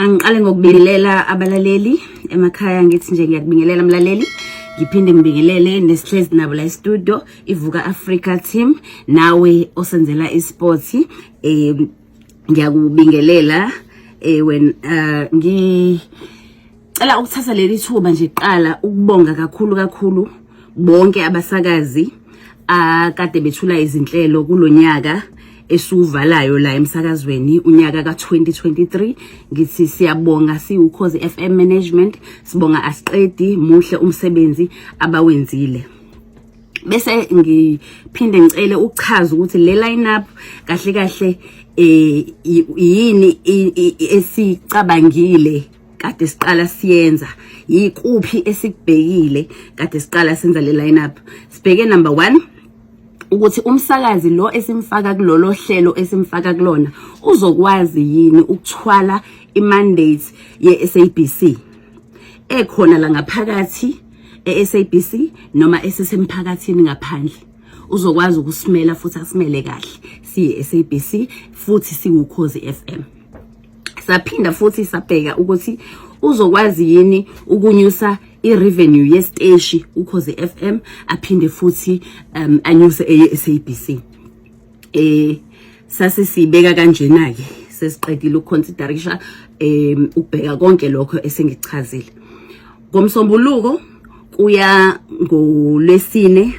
Angiqale ngokubingelela abalaleli emakhaya ngithi nje ngiyakubingelela mlaleli ngiphinde ngibingelele nesihlezi nabo la studio ivuka Africa team nawe osenzela isports eh ngiyakubingelela eh when uh, ngi Cela ukuthatha leli thuba nje kuqala ukubonga kakhulu kakhulu bonke abasakazi akade bethula izinhlelo kulonyaka esiwuvalayo la emsakazweni unyaka ka-2023 ngithi siyabonga siwukhozi FM management sibonga asiqedi muhle umsebenzi abawenzile bese ngiphinde ngicele ukuchaza ukuthi le lineup kahle kahle eh yini esicabangile kade siqala siyenza yikuphi esikubhekile kade siqala senza le lineup sibheke number 1 ukuthi umsakazi lo esimfaka kulolo hlelo esimfaka kulona uzokwazi yini ukuthwala imandate yeSABC ekhona la ngaphakathi eSABC noma esisemphakathini ngaphandle uzokwazi ukusimela futhi asimele kahle siye SABC futhi siwukhozi FM saphinda futhi sabheka ukuthi uzokwazi yini ukunyusa i-revenue yesiteshi ukhoze FM aphinde futhi um anyuse eye-SABC eh sase sibeka kanjena ke sesiqedile ukuconsiderisha um ukubheka konke lokho esengichazile ngomsombuluko kuya ngolwesine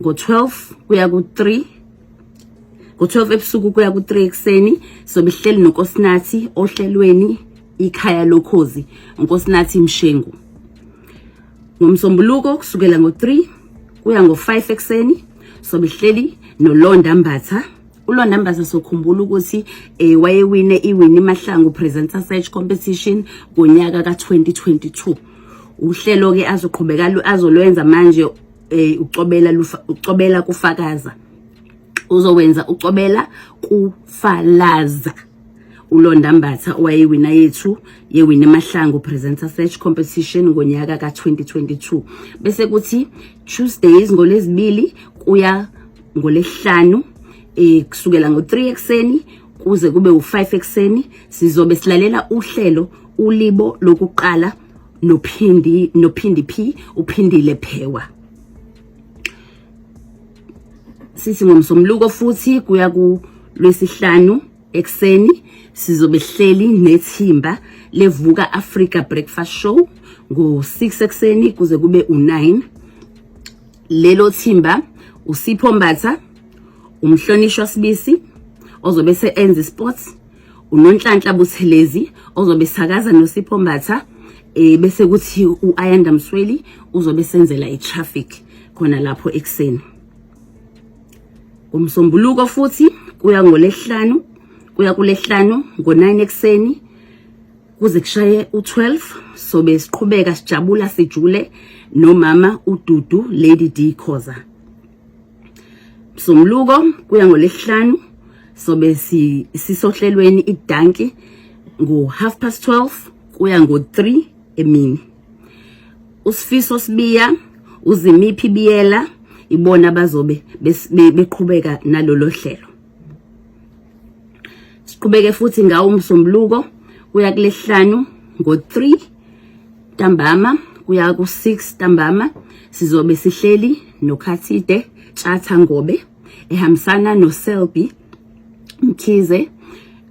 ngo-12 kuya ku-3 ku-12 ebusuku kuya ku-3 ekuseni sobe sihleli nonkosinathi ohlelweni ikhaya lokhozi unkosinathi mshengu ngomsombuluko kusukela ngo-3 kuya ngo-5 ekuseni sobe sihleli nolonda mbatha ulona mbaza sokhumbula ukuthi eh wayewine iwini mahlangu presenter search competition ngonyaka ka2022 uhlelo ke azoqhubeka azolwenza manje eh ucobela lufa ucobela kufakaza uzowenza ucobela kufalaza uLonda Mbatha owayewina yethu yewina emahlango presenter search competition ngonyaka ka2022 bese kuthi Tuesdays ngolezibili kuya ngolesihlanu eh kusukela ngo3 ekseni kuze kube u5 ekseni sizobe silalela uhlelo ulibo lokuqala nophindi nophindi phi uphindile phewa sithi ngomsomluko futhi kuya ku lwesihlanu ekseni sizobe sihleli nethimba levuka Africa Breakfast Show ngo-6 ekseni kuze kube u-9 lelo thimba usipho mbatha umhlonishwa sibisi ozobe se-enza isports unonhlanhla buthelezi ozobe sakaza nosipho mbatha eh bese kuthi uayanda msweli uzobe senzela itraffic khona lapho ekseni umsombuluko futhi kuya ngolehlanu kuya kulehlanu ngo9 ekseni kuze kushaye u12 sobe siqhubeka sijabula sijule nomama ududu lady d khoza Msunguluko kuya ngolesihlanu sobe sisohlelweni idanki ngo half past 12 kuya ngo 3 emini. Usifiso sibiya uzimiphi biyela ibona bazobe beqhubeka nalolo hlelo. Siqhubeke futhi ngawo umsombuluko kuya kulesihlanu ngo 3 Ntambama kuya ku-6 ntambama sizobe sihleli noKhathide Tshatha Ngobe ehambisana noSelby Mkhize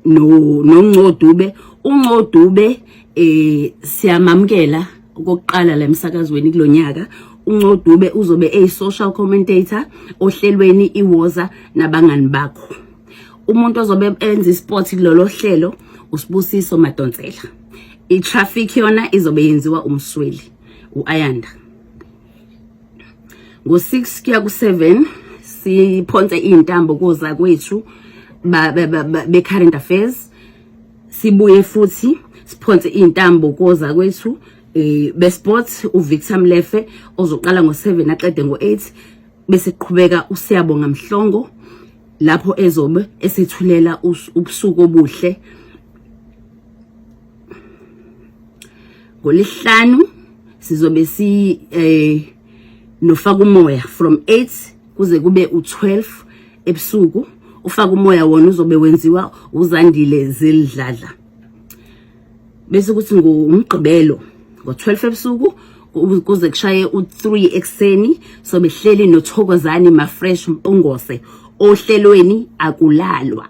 no noNcodube uNcodube eh siyamamkela okokuqala la emsakazweni kulonyaka uNcodube uzobe eyi-social commentator ohlelweni iWoza nabangani bakho umuntu ozobe enza isport kulolo hlelo usibusiso madonsela i-traffic yona izobe yenziwa umsweli u-ayanda ngo-six kuya ku-seven siphonse iy'ntambo koza kwethu be-current affairs sibuye futhi siphonse iy'ntambo koza kwethu eh, be-sport uvictor mlefe ozoqala ngo-seven aqede ngo-eight bese qhubeka usiyabonga mhlongo lapho ezobe esithulela ubusuku obuhle ngolihlanu sizobe si eh nofaka umoya from 8 kuze kube u12 ebusuku ufaka umoya wona uzobe wenziwa uzandile zelidladla bese kuthi ngomgqibelo ngo12 ebusuku kuze kushaye u3 ekseni so behleli nothokozani ma fresh mpungose ohlelweni akulalwa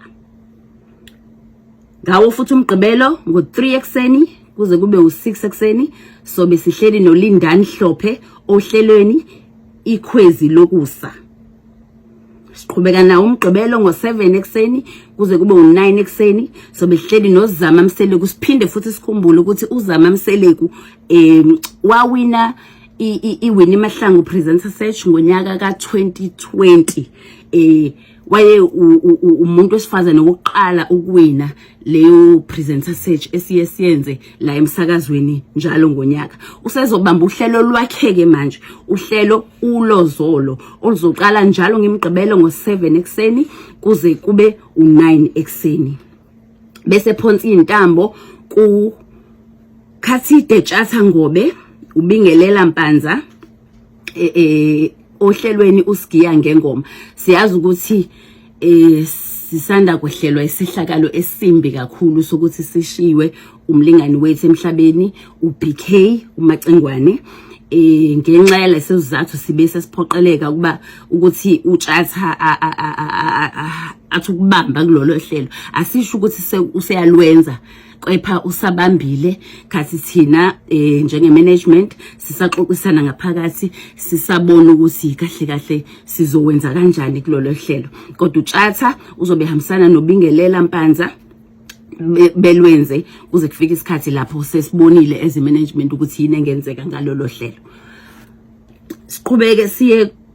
Ngawo futhi umgqibelo ngo-3 ekuseni kuze kube u-6 ekuseni sobe sihleli noLindani Hlophe ohlelweni ikhwezi lokusa. Siqhubeka nawo umgqibelo ngo-7 ekuseni kuze kube u-9 ekuseni sobe sihleli noZama Mseleku siphinde futhi sikhumbule ukuthi uZama Mseleku um wawina iWinnie Mahlangu Presenter Search ngonyaka ka-2020 um waye umuntu wesifazane wokuqala ukuwina leyo presenter search esiye siyenze la emsakazweni njalo ngonyaka usezobamba uhlelo lwakheke manje uhlelo ulozolo oluzoqala njalo ngimgqibelo ngo7 ekseni kuze kube u9 ekseni bese phonsi intambo ku Khathide Tshatha Ngobe ubingelela Mpanza eh, eh ohlelweni usigiya ngengoma siyazi ukuthi eh sisanda kuhlelwa isehlakalo esimbi kakhulu sokuthi sishiwe umlingani wethu emhlabeni uBK uMacengwane eh ngenxa yaleso sizathu sibe sesiphoqeleka ukuba ukuthi utshatha athi ukubamba kulolo hlelo asisho ukuthi useyalwenza kepha usabambile khathi thina eh, njenge management sisaxoxisana ngaphakathi sisabona ukuthi kahle kahle sizowenza kanjani kulolu hlelo kodwa utshatha uzobe hambisana nobingelela mpanza belwenze kuze kufike isikhathi lapho sesibonile as management ukuthi yini engenzeka ngalolu hlelo siqhubeke siye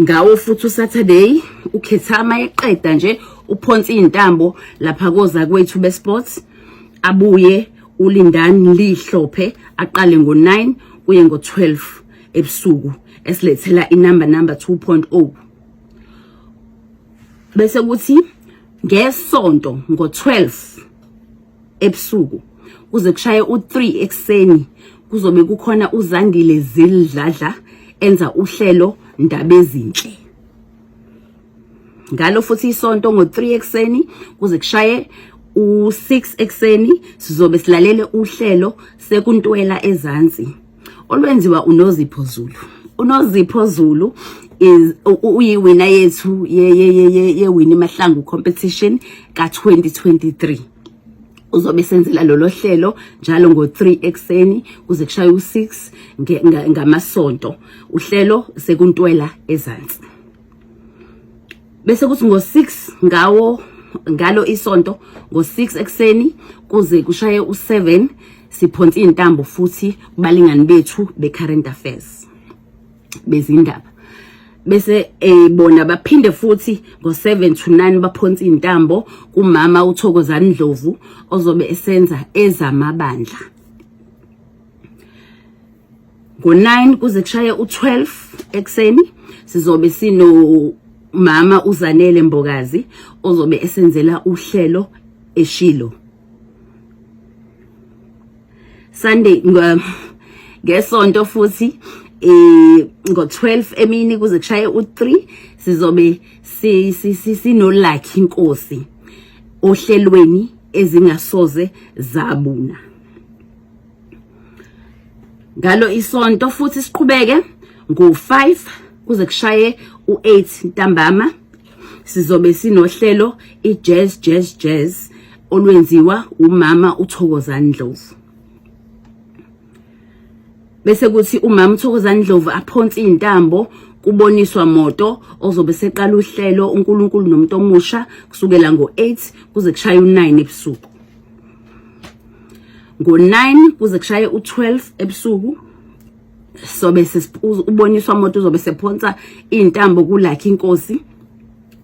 ngawo futhi usaturday ukhethama eqeda nje uphonsa izintambo lapha koza kwethu besports abuye ulindani lihlophe aqale ngo9 kuye ngo12 ebusuku esilethela inumber number 2.0 bese kuthi ngesonto ngo12 ebusuku kuze kushaye u3 ekseni kuzobe kukhona uzandile zilidladla enza uhlelo ndaba ezinhle ngalo futhi isonto ngo3 ekseni kuze kushaye u6 ekseni sizobe silalele uhlelo sekuntwela ezantsi olwenziwa uNozipho Zulu uNozipho Zulu is uyiwina yethu ye ye ye ye wini mahlangu competition ka 2023 uzobe senzela lolo hlelo njalo ngo3 ekseni kuze kushaye u6 ngamasonto uhlelo sekuntwela ezantsi bese kuthi ngo-6 ngawo ngalo isonto ngo-6 ekuseni kuze kushaye u-7 siphonsa iy'ntambo futhi kubalingani bethu be-current affairs bezindaba bese eh bona baphinde futhi ngo7 to 9 baphonsa intambo kumama uThokozani Ndlovu ozobe esenza ezamabandla ngo-9 kuze kushaye u-12 ekuseni sizobe sino mama uzanele mbokazi ozobe esenzela uhlelo eshilo Sunday ngesonto futhi eh ngo12 emini kuze kushaye u3 sizobe sino lucky inkosi ohlelweni ezingasoze zabuna ngalo isonto futhi siqhubeke ngo-5 kuze kushaye u-8 ntambama sizobe sinohlelo i-jazz jazz jazz olwenziwa umama uthokozani ndlovu bese kuthi umama uthokozani ndlovu aphonse iy'ntambo kuboniswa moto ozobe seqala uhlelo uNkulunkulu nomuntu omusha kusukela ngo8 kuze kushaye u9 ebusuku ngo-9 kuze kushaye u-12 ebusuku sobe uboniswa umuntu uzobe sephonsa iy'ntambo kulakhe inkosi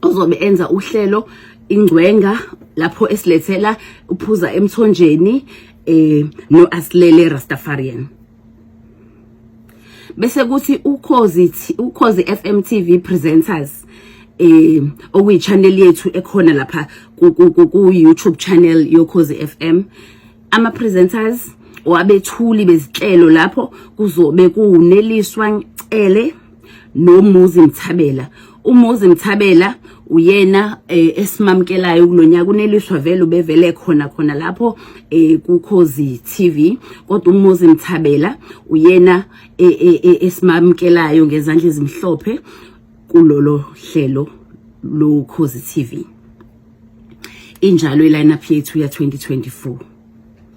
ozobe enza uhlelo ingcwenga lapho esilethela uphuza emthonjeni eh no asilele rastafarian bese kuthi ukhozi ukhozi FM TV presenters eh okuyi channel yethu ekhona lapha ku YouTube channel yokhozi FM ama presenters wabethuli bezihlelo lapho kuzobe kuneliswa ngcele nomuzi mthabela umuzi mthabela uyena eh, esimamkelayo kulonyaka uneliswa vele ubevele khona khona lapho eh, kukhozi TV kodwa umuzi mthabela uyena eh, eh, eh, esimamkelayo ngezandla ezimhlophe kulolo hlelo lokhozi TV injalo ilineup yethu ya 2024